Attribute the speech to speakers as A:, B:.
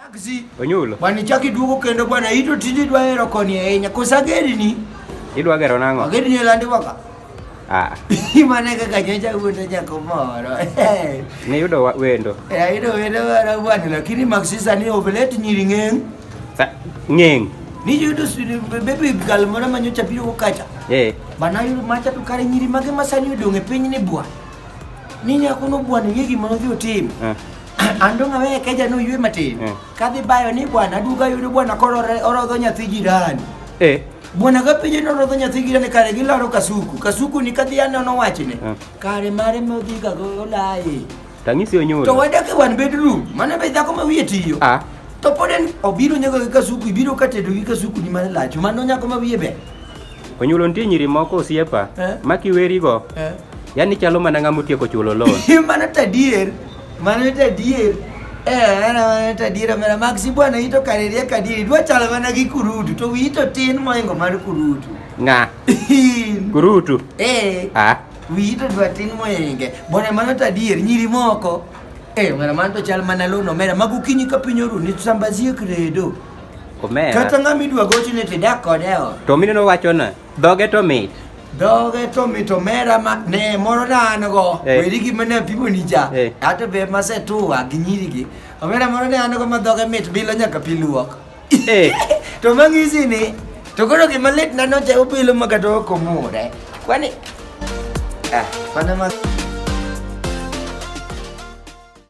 A: Taxi. Onyulo. Bwana
B: chak iduogo kendo
A: bwana ito tindi dwa hero koni ahinya. Kosa ageri ni. Idwa gero nang'o?
B: Ageri ni landi waka.
A: Ah.
B: Imane kaka
A: nyocha wuondo nyako moro. Ni yudo
B: wendo. Eh, ayudo wendo mara
A: bwana lakini maksisa ni ovelet nyiri ng'eng. Sa ng'eng.
B: Ni yudo
A: baby girl moro ma nyocha biro kukacha. Eh. Bana yudo macha to kare nyiri mage masani odong' e piny ni bwana. Ni nyako no bwana yegi ma odhi otim. Eh. andonga we keja no yue mati eh. kadhi bayo ni bwana duga yudo bwana koro orodho nyathi jirani eh bwana ga pije no rodho nyathi jirani kare gi laro kasuku kasuku ni kadhi ano no wachne eh. kare mare mo dhi ga go lai tangisi onyoro to
B: wada ke wan bedroom
A: mana be dhako ma wiye tiyo ah to poden obiro nyago gi kasuku ibiro katedo gi kasuku ni mana lacho mano nyako ma wiye be onyulo ntie
B: nyiri moko osiepa eh? makiwerigo eh? yani chalo mana ng'ama otieko chulo loan mana tadier
A: Mano en adier. Eh, en en adier omera mag si bwana ito kareria kadiri. Dwa chalo mana gi kurutu to wi ito tin moingo mar kurutu. Nga.
B: Kurutu. Eh. Ah.
A: Wi ito dwa tin moinge. Bwana mano to adier nyiri moko. Eh, omera mano to chal mana lono omera mag okinyi ka piny oru ni sambazie kredo. Omera. Kata
B: ng'ama idwa
A: gochne to idak kode e ot. To mineno wachona.
B: Dhoge to mit. Dhoge to
A: mit omera ma ne moro na an go. Eh. Weri gi mane pimo ni cha. Eh. Ato be ma se tuwa gi nyiri gi. Omera moro ne an go ma dhoge mit bilo nyaka pi luok. Eh. To mang'isi ni to koro gima lit na noche obilo ma kata ok omure. Kwani ah, mana ma